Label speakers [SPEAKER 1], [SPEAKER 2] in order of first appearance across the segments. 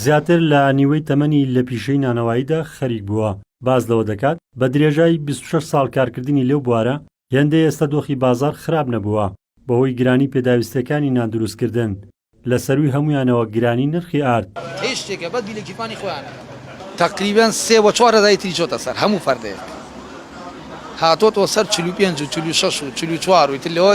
[SPEAKER 1] زیاتر لە نیوەی تەمەنی لە پیشەی نانەواییدا خەریک بووە، باس لەوە دەکات، بە درێژای بیست و شەش ساڵ کارکردنی لەو بوارە، هێندەی ئێستە دۆخی بازاڕ خراپ نەبووە، بەهۆی گرانی پێداویستییەکانی ناندروستکردن، لە سەرووی هەموویانەوە گرانی نرخی ئارد.
[SPEAKER 2] تەقریبەن سێ و چوار هەزاری تری چۆتە سەر هەموو پەردەیەک هاتۆتەوە سەر چل و پێنج و چل و شەش و چل و چوار و ئیتر لەوە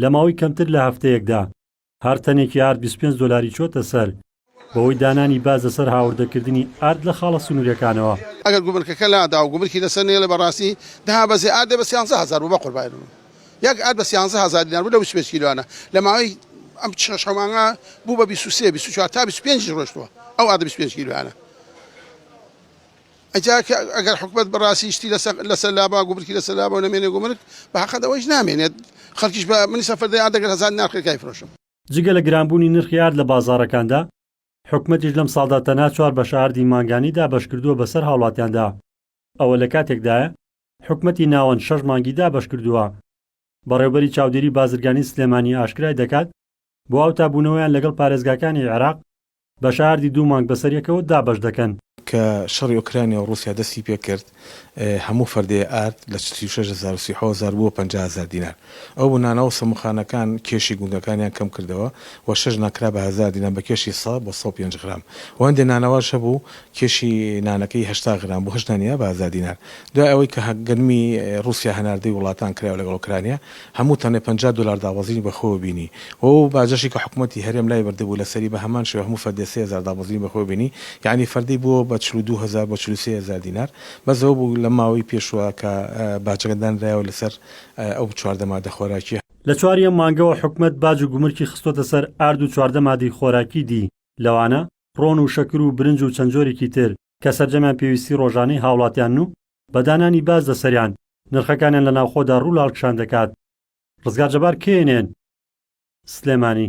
[SPEAKER 1] لە ماوەی کەمتر لە هەفتەیەکدا هەر تەنێکی ئارد بیست و پێنج دۆلاری چۆتە سەر، بەهۆی دانانی باج لەسەر هاوردەکردنی ئارد لە خاڵە سنووریەکانەوە. ئەگەر گومرکەکە
[SPEAKER 3] لادا و گومرکی لەسەر نەیەڵێ بەڕاستی دابەزێ ئاردێ بە سیانزە هەزار بوو بەقوربانی بم یەک ئارد بە سیانزە هەزار دینار بوو لە بیست و پێنج کیلۆیانە لە ماوەی ئەم شەش حەو مانگە بوو بە بیست و سێ بیست و چوار تا بیست و پێنجیش ڕۆشتووە ئەو ئاردە بیست و پێنج کیلۆیانە. ئەجا کە ئەگەر حکومەت بەڕاستی شتی لەسەر لەسەر لابا گومرکی لەسەر لابا و نەمێنێ گومرک بە حەقت ئەوەیش نامێنێت خەڵکیش بە منی سەفەردەی ئارد ئەگەر هەزار ناخ کرکای فرۆشم. جگە لە گرانبوونی
[SPEAKER 1] نرخی ئارد لە بازاڕەکاندا، حکومەتیش لەم ساڵدا تەنها چوار بەشە ئاردی مانگانی دابەشکردووە بەسەر هاوڵاتیاندا، ئەوە لە کاتێکدایە حکومەتی ناوەند شەش مانگی دابەشکردووە. بەڕێوبەری چاودێری بازرگانی سلێمانی ئاشکرای دەکات، بۆ ئەوتابوونەوەیان لەگەڵ پارێزگاکانی عێراق بە شاردی دوو مانگ بەسەر یەکەوە دابەش دەکەن. کە شەڕی
[SPEAKER 4] ئۆکرانیا و ڕووسیا دەستی پێ کرد، هەموو فەردێ ئارد لە چل و شەش هەزار و سی و حەوت هەزار بووە پەنجا هەزار دینار. ئەو بنانە و سەموخانەکان کێشی گوندەکانیان کەم کردەوە و شەش نان کرا بە هەزار دینار بە کێشی سە بۆ سەد و پێنج غرام و هەندێ نانەواش هەبوو کێشی نانەکەی هەشتا غرام بوو هەشت نانی بە هەزار دینار. دوای ئەوەی کە گەنمی ڕووسیا هەناردەی وڵاتان کرا لەگەڵ ئۆکرانیا، هەموو تەنێ پەنجا دۆلار دابەزینی بەخۆوە بینی و ئەو باجەشی کە حکومەتی هەرێم لای بردبوو لەسەری بە هەمان شێوە هەموو فەردێ سێ هەزار دابەزینی بەخۆوە بینی یەعنی فەردی بووە بە چل و دوو هەزار بۆ چل و سێ هەزار دینار بەس ئەوە بوو لەم ماوەی پێشووە کە باجەکە دانرایەوە لەسەر ئەو چواردە مادە خۆراکیە. لە چوار یەم مانگەوە
[SPEAKER 1] حکومەت باج و گومرکی خستۆتە سەر ئارد و چواردە مادەی خۆراکی دی لەوانە، ڕۆن و شەکر و برنج و چەند جۆرێکی تر، کە سەرجەمیان پێویستی ڕۆژانەی هاوڵاتیانن و بە دانانی باج لەسەریان نرخەکانیان لە ناوخۆدا ڕوو لاڵکشان دەکات. ڕزگار جەبار، knn، سلێمانی.